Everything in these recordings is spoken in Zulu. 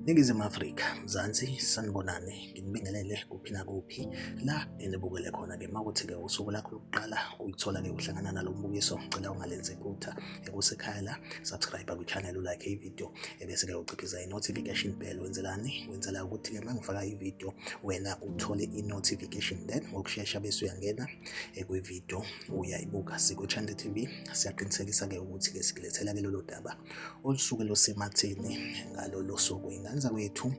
Ningizimu Afrika, Mzansi, sanibonani, nginibingelele kuphi nakuphi la enibukele khona-ke makuthi-ke usuku lakho lokuqala ulithola-ke uhlangana nalo mbukiso, ngicela ungalenzi iphutha ekusekhaya la, subscribe kwi-channel ulike ividiyo ebese-ke uciphiza i-notification bell wenzelani? Wenzela ukuthi-ke uma ngifaka ividiyo wena uthole i-notification then ngokushesha bese uyangena ekwividiyo uyayibuka sikwichannel TV siyaqinisekisa-ke ukuthi-ke sikulethela-ke lolo daba olusuke lusematheni ngalolo suku ingane zakwethu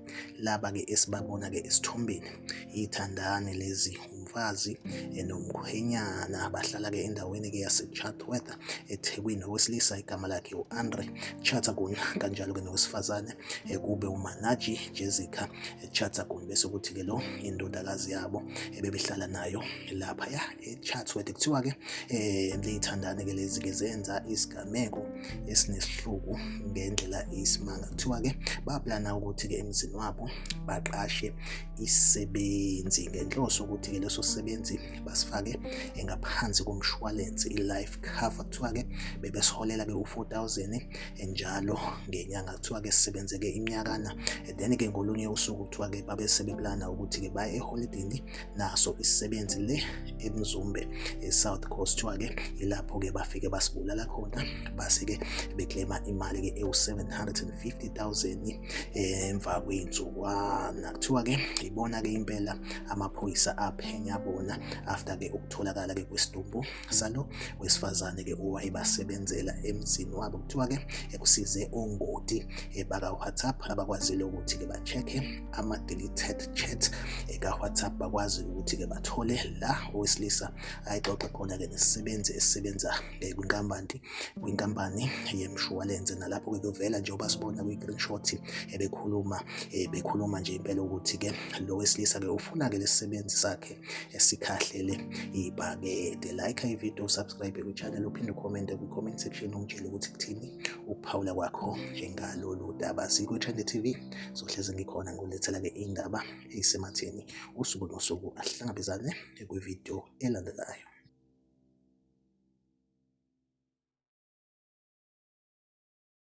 laba-ke esibabona-ke esithombeni ithandane lezi umfazi enomkhwenyana abahlala-ke endaweni-ke yase-chartworth ethekwini owesilisa igama lakhe u-andre chatagun kanjalo-ke nowesifazane ekube umanaji jessica Chatsaguni bese kuthi-ke lo indodakazi yabo ebebehlala nayo lapha ya echatsworth kuthiwa-ke um liyithandane-ke lezi-ke zenza isigameko esinesihluku ngendlela isimanga kuthiwa-ke baplana ukuthi-ke emzini wabo baqashe isisebenzi ngenhloso ukuthi-ke leso sisebenzi basifake ngaphansi komshwalense i-life cover kuthiwa-ke bebesiholela-ke u-4000 njalo ngenyanga kuthiwa-ke sisebenzeke iminyakana then-ke ngolunye usuku kuthiwa-ke babe sebeplana ukuthi-ke baye eholidini naso isisebenzi le emzumbe e-south coast kuthiwa-ke ilapho-ke bafike basibulala khona base-ke beklema imali-ke ewu-750 000 emva kwey'nsukwana kuthiwa-ke ibona-ke impela amaphoyisa aphenya bona after-ke ukutholakala-ke kwesidumbu salo wesifazane ke owayebasebenzela emzini wabo kuthiwa ke ekusize ongoti eh, baka WhatsApp abakwazile ukuthi ke ba-check-e ama deleted chat eh, ka WhatsApp bakwazi ukuthi ke bathole la owesilisa ayixoxe khona ke nesisebenzi esisebenza eh, kwinkampani kwinkampani yemshwalense nalapho ke kuvela njengoba sibona kwi screenshot ebekhuluma bekhuluma nje impela ukuthi ke lo wesilisa ke ufuna ke lesisebenzi sakhe esikhahlele ibhakede like ivideo usubscribe kuchannel uphinde ucommente kwi-comment section umtshele ukuthi kuthini ukuphawula kwakho njengalolu daba sikwi-trend tv sohlezi ngikhona ngolethela-ke indaba eyisematheni usuku nosuku ahlangabezane kwivideo elandelayo